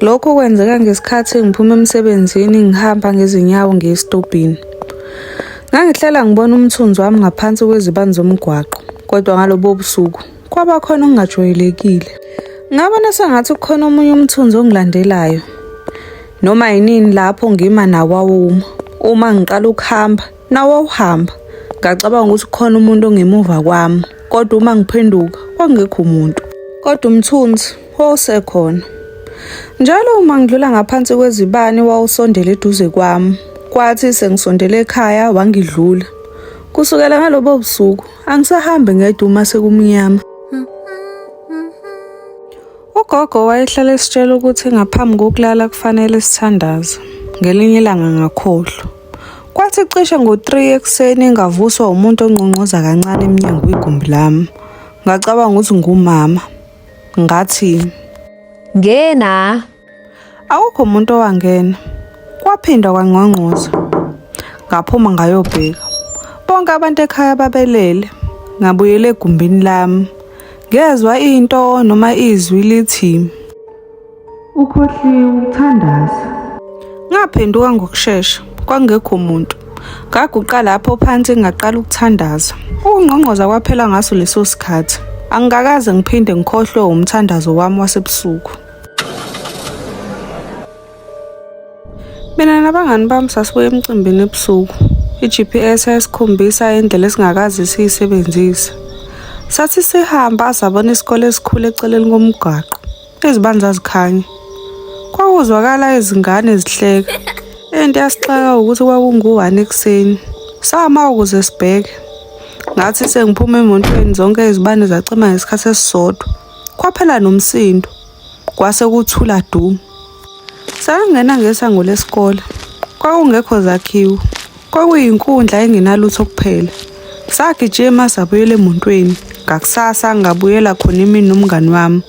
Lokho kwenzeka ngesikhathi ngiphuma emsebenzini ngihamba ngezinyawo ngiye esitobhini. Ngangihlela ngibona umthunzi wami ngaphansi kwezibani zomgwaqo, kodwa ngalobo busuku kwaba khona okungajwayelekile. Ngabona sengathi kukhona omunye umthunzi ongilandelayo. Noma yinini lapho ngima nawawuma. Uma ngiqala ukuhamba, Nawawuhamba, ngacabanga ukuthi kukhona umuntu ongemuva kwami, kodwa uma ngiphenduka kwakungekho umuntu. Kodwa umthunzi wawusekhona. Njalo uma ngidlula ngaphansi kwezibani wawusondela eduze kwami. Kwathi sengisondela ekhaya wangidlula. Kusukela ngalobo busuku angisahambi ngedwa uma sekumnyama. Ugogo wayehlala esitshela ukuthi ngaphambi kokulala kufanele sithandaze. Ngelinye ilanga ngakhohlwa. Kwathi cishe ngo-3 ekuseni ngavuswa umuntu onqonqoza kancane emnyango kwigumbi lami. Ngacabanga ukuthi ngumama. Ngathi, Ngena. Akukho umuntu owangena. Kwaphinda kwangqongqoza. Ngaphuma ngayobheka. Bonke abantu ekhaya babelele. Ngabuyela egumbini lami. Ngezwa into noma izwi lithi, Ukhohliwe ukuthandaza. Ngaphenduka ngokushesha, kwangekho muntu. Ngaguqa lapho phansi ngaqala ukuthandaza. Ukungqongqoza kwaphela ngaso leso sikhathi. Angikakaze ngiphinde ngikhohlwe umthandazo wami wasebusuku. Mina nabangani bami sasibuya emcimbini ebusuku. I-GPS yayisikhombisa indlela esingakaze siyisebenzise. Sathi sihamba sabona isikole esikhulu eceleni komgwaqo. Izibani zazikhanya. Kwakuzwakala izingane zihleka. Into yasixaka ukuthi kwakungu-one ekuseni. Sama ukuze sibheke. Ngathi sengiphuma emotweni zonke izibani zacima ngesikhathi esisodwa. Kwaphela nomsindo. Kwase kuthula du. Sangena ngesango lesikole. Kwakungekho zakhiwo. Kwakuyinkundla engenalutho kuphela. Sagijima sabuyela emotweni. Ngakusasa ngabuyela khona imini nomngani wami.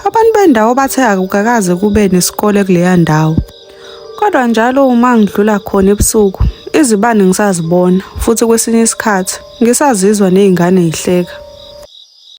Abantu bendawo bathe akukakaze kube nesikole kuleya ndawo. Kodwa njalo uma ngidlula khona ebusuku, izibani ngisazibona futhi kwesinye isikhathi ngisazizwa nezingane zihleka.